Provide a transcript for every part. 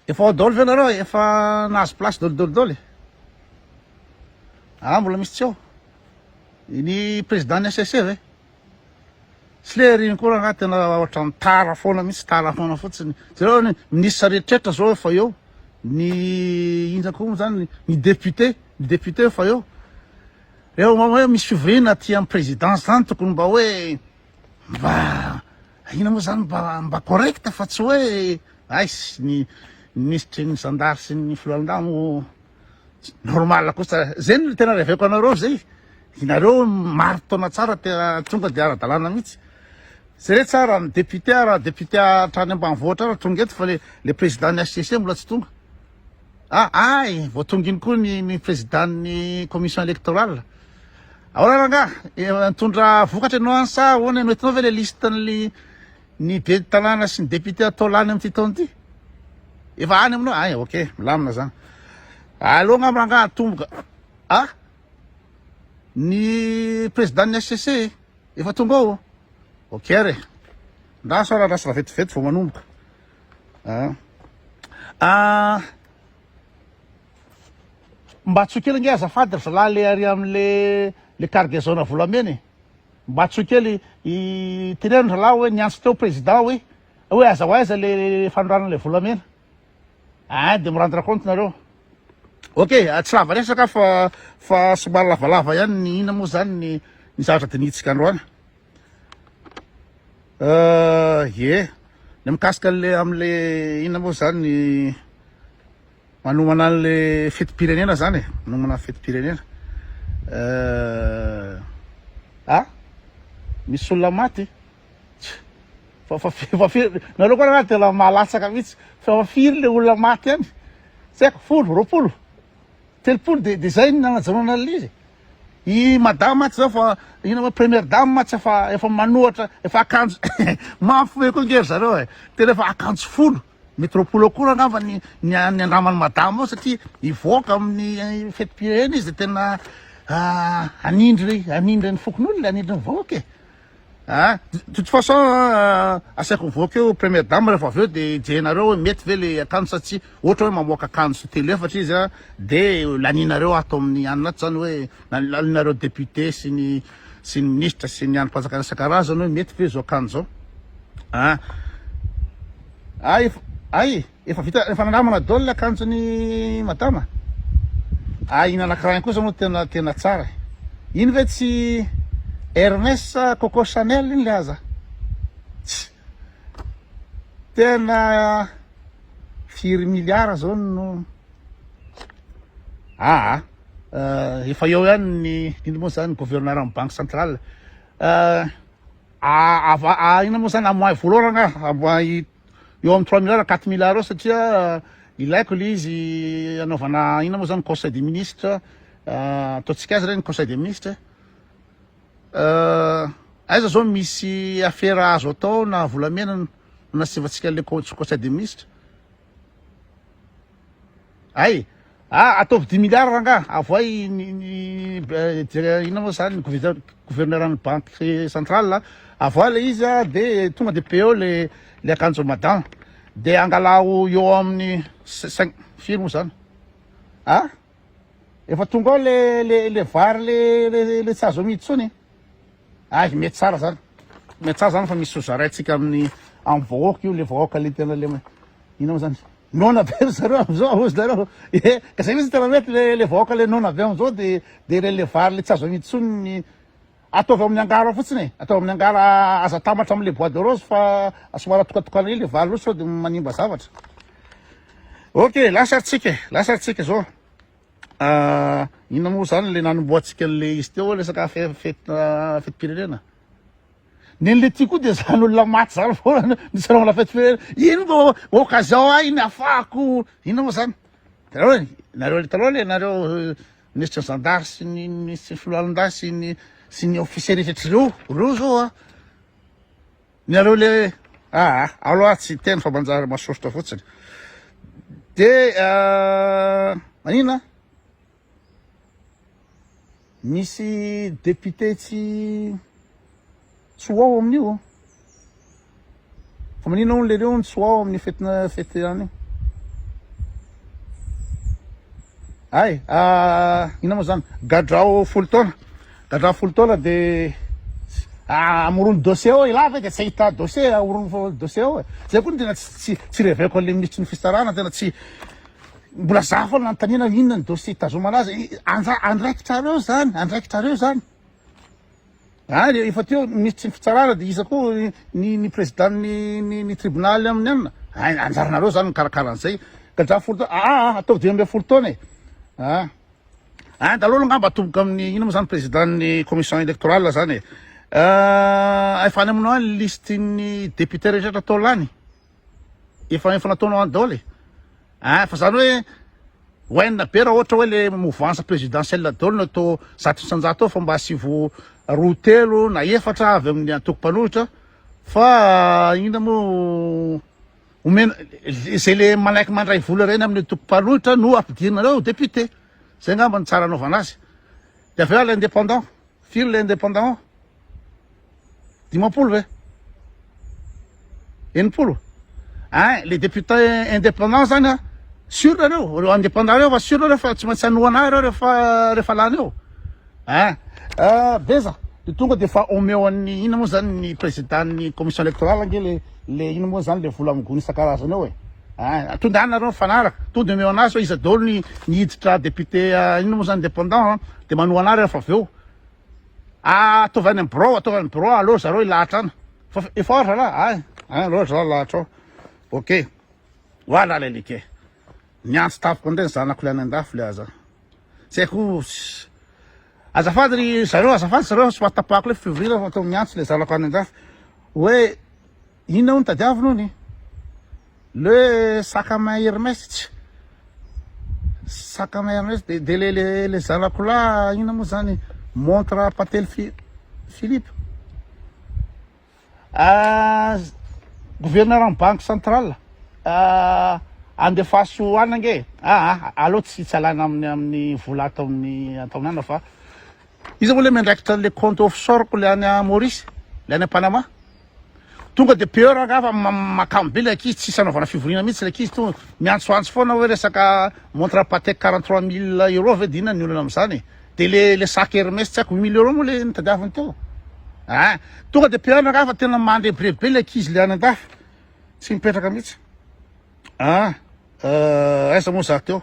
Efa ao dol ve nareo e? Efa nahazo place dol dol dol e? Aa mbola misy tsy ao? Ny président ny HCC ve? Tsy le ry nkory angaha tena ohatran'ny tara foana mihitsy, tara foana fotsiny. Jereo ny ministre rehetrretra zao efa eo, ny inona koa moa zany, ny député, ny député efa eo. Eo mba hoe misy fivoriana aty amin'ny présidence zany tokony mba hoe mba Inona moa zany mba mba correct fa tsy hoe aiss ny minisitry ny zandary sy ny filohalondamo normal kosa zay no tena reveko anareo zay inareo maro taona tsara tena tonga de ara-dalàna mihitsy zay re tsara ny député ara député hatrany ambanivohitra ara tonga eto fa le le président ny HCC mbola tsy tonga ah ay vao tonga iny koa ny ny président ny commission électorale Ahoana rangaha? Efa nitondra vokatra ianao any sa ahoana ianao? Hitanao ve ilay liste-n'ny ny ben'ny tanàna sy ny député atao lany amin'ity taona ity? Efa any aminao? Ay, ok, milamina zany. Aleo angamba rangaha atomboka. Ah? Ny président-n'ny HCC efa tonga ao? Ok re. Ndra sao randrasana vetivety vao manomboka. Ah. Ah. Mba antsoy kely nge azafady ry zalahy le ary amle le cargaison volamena e! Mba antsoy kely i teneno ry zalahy oe niantso teo président oe oe aza ho aiza le fanondranana le volamena ah de me rendre compte nareo. Ok tsy lava resaka aho fa fa somary lavalava ihany ny inona moa zany ny ny zavatra dinihintsika androany euh ye ny mikasika le amle inona moa zany ny Manomana anle fetim-pirenena zany e, manomana fetim-pirenena eh, ah misy olona maty fa fa fa firy nareo koa raha tena mahalatsaka mihitsy fa fa firy le olona maty any tsy haiko folo roapolo telopolo de de zay ny nanajanona an'lizy i madame atsy zao fa ina ma première dame atsy efa efa manohatra efa akanjo mafy be koa nge ry zareo e tena efa akanjo folo Metropool ao koa angamba ny ny andraman'i madame ao satria hivoaka amin'ny fetim-pirenena izy dia tena hanindry hanindry ny fokonolona hanindry ny vahoaka e a de toute façon asaiko mivoaka eo première dame rehefa avy eo dia hijehinareo hoe mety ve le akanjo sa tsia ohatra hoe mamoaka akanjo telo efatra izy a dia lanianareo ato amin'ny anona ato izany hoe lanianareo député sy ny sy ny minisitra sy ny andrim-panjakana isan-karazany hoe mety ve izao akanjo izao a ah. ah, efa ay efa vita efa nanamana dol le akanjony madama a ah, iny anakirahiny kosa moa tena tena tsara iny ve tsy Hermès Coco Chanel iny le aza tsy tena firy milliards zao no Aa! efa eo ihany ny inona moa zany gouverneur ny banque centrale aa inona moa zany amoahy volorana nga amoahy eo amin'ny trois milliards quatre milliards eo satria ilaiko ilay izy anaovana inona moa zany conseil des ministres ataontsika azy re ny conseil des ministres eh aiza zao misy afera azo atao na volamena no nasivantsika ilay conseil des ministres Ay! Ah, ataovy dimy milliards rangaha, avoay ny ny inona moa zany gouverneur ny banque centrale, avoay le izy a, de tonga de peo le le akanjo madama, de angalaho eo amin'ny cinq, firy moa zany a? Efa tonga ao le le le vary le le le tsy azo amidy tsony. Ay mety tsara zany. Mety tsara zany fa misy sozaraintsika amin'ny amin'ny vahoaka io le vahoaka le tena le inona zany. Nona be ry zareo amizao hozy nareo. Eh, ka zay mihitsy tena mety le le vahoaka le nona be amizao de de le le vary le tsy azo amidy tsony ny Ataovy amin'ny angara fotsiny e, ataovy amin'ny angara, aza atambatra amin'ilay bois de rose fa somary atokatokana ely ilay valiny sao dia manimba zavatra. Ok, lasa ary tsika e, lasa ary tsika zao. Ah, inona moa zany ilay nanombohantsika an'ilay izy teo resaka fe- fety ah, fetim-pirenena. Nen'ilay ty koa dia zany olona maty zany foana no niseranao la fetim-pirenena. Iny no occasion ahy iny afahako inona moa zany. Itanareo e, nareo le taloha le nareo eh, Minisitra zandary sy ny minisitry filohalindahy sy ny sy ny officier rehetra ireo ireo zao a ny areo le aa aloha tsy teny fa manjary masoritra fotsiny de manina misy député tsy tsy ho ao amin'io oh. Fa maninona hono le reo no tsy ho ao amin'ny fetina fety any io. Ay, ah, ina moa zany? Gadrao folo taona. Gadrao folo taona de ah, amorony dossier ao ilahy ve de tsy ahita dossier amorony dossier ao e. Zay koa no tena tsy tsy tsy reveko an'le minisitry ny fisarana tena tsy mbola za foana nanontaniana inona ny dossier hitazomana azy. I- Anja andraikitrareo zany, andraikitrareo zany. Ary efa teo nisy tsy fitsarana dia iza koa ny ny président ny ny tribunal aminy anona ay anjaranareo zany mikarakara an'izay kajafy folo taona aa ah, ah, ataovy dimy ambin'ny folo taona e aa ah. Any daholo angamba atomboka amin'ny ino moa zany président ny commission électorale zany e efa any aminao any listin'ny député rehetra atao lany efa efa nataonao any daholo e ah fa zany hoe wainina be raha ohatra hoe le mouvance présidentielle daholo no atao zato isanjato ao fa mba asivo roa telo na efatra avy amin'ny antoko mpanohitra fa inona moa omena izay le manaiky mandray vola ireny amin'ny antoko mpanohitra no ampidirina reo député zay angamba ny tsara anaovana azy de avy eo indépendant Firy le indépendant? Dimampolo ve? Enimpolo? Hein, le député indépendant zany a, sûr nareo, reo indépendant reo fa sûr nareo fa tsy maintsy hanohana ahy reo refa, refa lany eo. Hein, ah, beza, de tonga de fa omeo an'ny ina moa zany ny président ny commission électorale ange le, le ina moa zany le vola amin'ny gony isan-karazany eo e. Hein, to de any nareo mifanaraka, to de omeo anazy hoe iza daholo ny, ny hiditra député, ah, ina moa zany indépendant an, Dia manohana ary rehefa avy eo. Ah, ataovy any amin'ny birao, ataovy any amin'ny birao, aleo ry zareo hilahatra any. Fa efa ora zalahy, ay, ay, aleo ry zalahy lahatra ao. Ok, ho ahy lahy ilay like. Niantso tampoka indray ny zanako ilay any an-dafy ilay aza. Tsy haiko, azafady ry zareo, azafady ry zareo, tsy mahatapahako ilay fivoriana fa to miantso ilay zanako any an-dafy hoe Inona hono tadiaviny hono? Le sac à main Hermès tsy sac à main Hermès de de le le le zanako lahy inona moa zany montre Patel Philippe ah gouverneur am banque centrale ah andefaso any ange ah aleo tsy tsy alana amin'ny amin'ny vola ato amin'ny ataonana fa Iza moa le miandraikitra an'le compte offshore ko le any a Maurice? Le any a Panama? Tonga de peur angaha fa makamo be le ankizy tsisy anaovana fivoriana mihitsy le ankizy to miantsoantso foana hoe resaka montre Patek quarante trois mille euro ve de inona ny olana am'zany e? De le le sac Hermès tsy haiko huit mille euro moa le nitadiaviny teo ah! Tonga de peur angaha fa tena mandrebireby be le ankizy le any an-dafy tsy mipetraka mihitsy ah! Aiza moa za teo?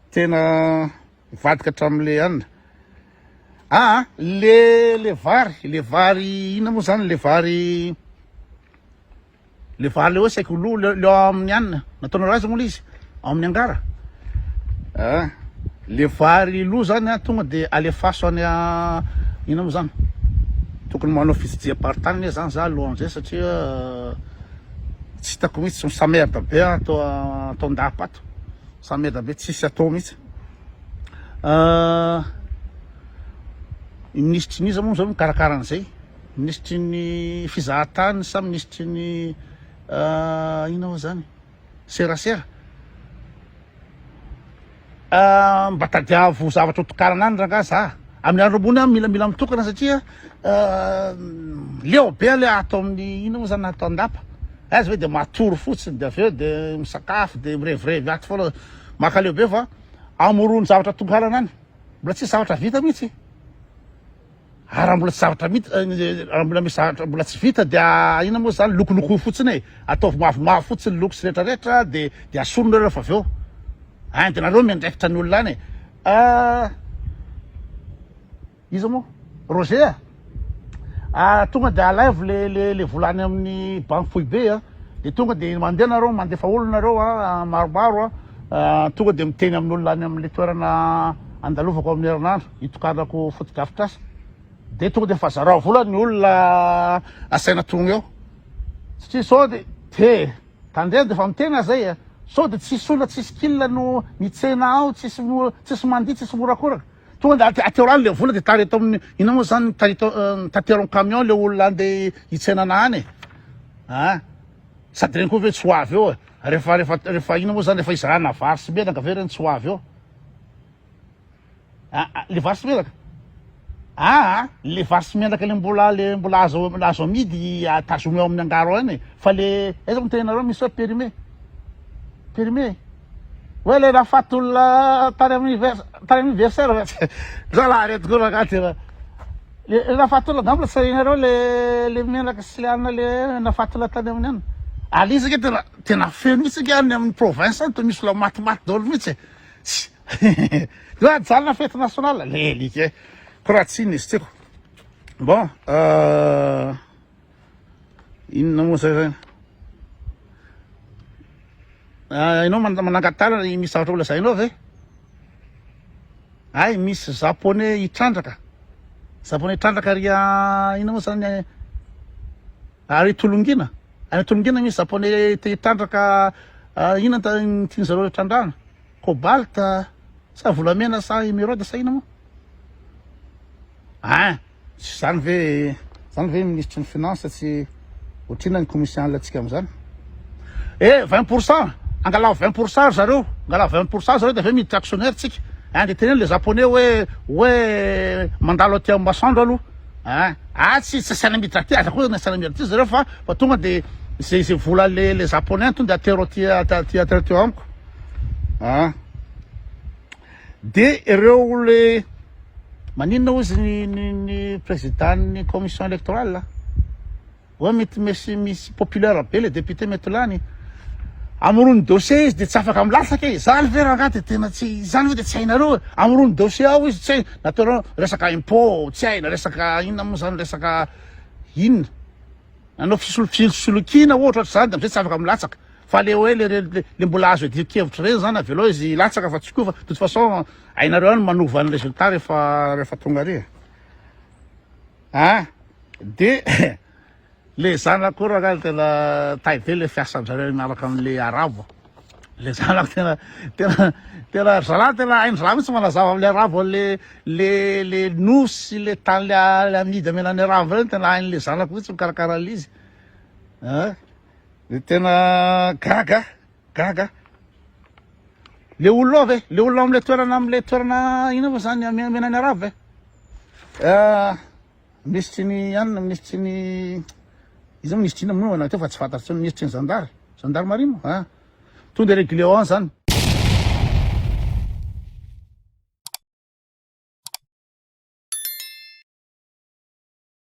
Tena. Mivadika hatramin'ny le an. Aa le le vary le vary inona moa zany le vary le vary le hoe saiky lo le ao amin'ny an nataonareo azy moa le izy ao amin'ny angara a le vary lo zany a tonga de alefaso any a inona moa zany tokony manao fitsijiham-paritany anie zany za alohan'izay satria tsy hitako mihitsy misamerde be ato ataon-dahapato Za meda be tsisy atao mihitsy ah. I minisitry ny iza moa zao no mikarakara an'izay? Minisitry ny fizahan-tany sa minisitry ny ah, inona moa zany? Serasera? Ah, mba tadiavo zavatra hotokanana any rangahy za. Amin'ny andro ambony aho milamila mitokana satria. Leo be le ato amin'ny inona moa zany ato andapa eh, za ve de matory fotsiny de avy eo de misakafo de mirevirevy ato foana makaleo be fa amorony zavatra tonga halana any mbola tsisy zavatra vita mihitsy ary raha mbola tsy zavatra mita eh, raha mbola misy zavatra mbola tsy vita dia inona moa zany lokoloko fotsiny e ataovy mavomavo fotsiny loko sy rehetrarehetra de de asorona rehefa avy eo any de nareo miandraikitra ny olona any e ah, Iza moa? Roger a! Ah, tonga dia alaivo le le le vola any amin'ny banky foibe a, dia tonga dia mandeha nareo mandefa olona nareo a, maromaro a, tonga dia miteny amin'olona any amin'le toerana andalovako amin'ny herinandro hitokanako fotodrafitrasa, dia tonga dia efa zarao vola ny olona asaina tonga eo, satria sao dia te tandremo dia efa miteny aho zay a, sao dia tsisy olona tsisy kila no mitsena ao, tsisy tsisy mandihy, tsisy morakoraka. Tonga de aty aty orano le vola de tary eto amin'ny inona moa zany tary eto tateron camion le olona andeha hitsenana any a ah. sady reny koa ve tsy ho avy eo e rehefa rehefa rehefa inona moa zany rehefa izarana vary sy menaka ve reny tsy ho avy eo ah, ah, le vary sy menaka aa ah, le vary sy menaka le mbola le mbola azo azo amidy tazomy eo amin'ny angaro any e. fa le aiza moa ny tenanareo misy hoe périmé périmé Hoe le nafaty olona tany amin'ny vers- tany amin'ny versaire ve tsy zalahy reto koa rangahy ty ra. Le le nafaty olona angamba sahinareo le le menaka sy le anona le nafaty olona tany amin'ny anona. Aleo isika tena tena feno mihitsy isika any amin'ny province any toa misy olona matimaty daholo mihitsy e. Tsy Io ajanona fety national le alika e. Ko raha tsy iny izy tiako. Bon euh. Inona moa zay zany? Ah, ianao manangatara ny misy zavatra holazainao ve? Ay, misy japonais hitrandraka. Japonais hitrandraka ry ah, inona moa zany eh? Ary tolongina. Any tolongina misy japonais te hitrandraka ah, inona ta- ny tian'ny zareo hitrandrahana? Cobalt ah, sa volamena sa emeraude sa inona moa? Ah, Tsy zany ve zany ve ministry ny finance tsy otrina ny commission tsika amzany e 20 pourcent angalao 20 pourcent ry zareo angalao 20 pourcent zareo de aveo miditra actionnaire tsika hein de teneno le japonais hoe hoe mandalo aty amin'ny masoandro aloha hein ah tsy tsy asiana miditra aty aza koa asiana miditra aty zareo fa fa tonga de ze ze vola le le japonais tonga de atero aty aty atero aty amiko hein De ireo le maninona ozy ny ny ny président ny commission électorale a? Oe mety mesy misy populaire be le député mety ho lany. Amorony dossier izy de tsy afaka milatsaka e! Zany ve rangah de tena tsy zany ve de tsy hainareo e! Amorony dossier ao izy tsy hay na ataonao resaka impôt tsy hay na resaka inona mo zany resaka inona? Nanao fisolo- fisolokiana ohatra ohatr'izany de amzay tsy afaka milatsaka. Fa le oe le le mbola azo iadian kevitra reny zany avelao izy hilatsaka fa tsy koa fa de toute façon hainareo any manova ny resultat refa refa tonga ary a de le zanako io raha tena tay be le fiasandrareo miaraka amle arabo le zanako tena tena tena zalahy tena haindraha mihitsy manazava amle arabo le le le nosy le tany le amidy amenany arabo reny tena hainle zanako mihitsy mikarakara le izy a Dia tena gaga, gaga. Le olona ave, le olona amle toerana amle toerana ina va zany amenany arabo ve? Eh, minisitry ny anona, minisitry ny iza minisitry ina moa na teo fa tsy fantatro tsony minisitry ny zandary, gendarmerie moa. Ah. Tonde régulier zany.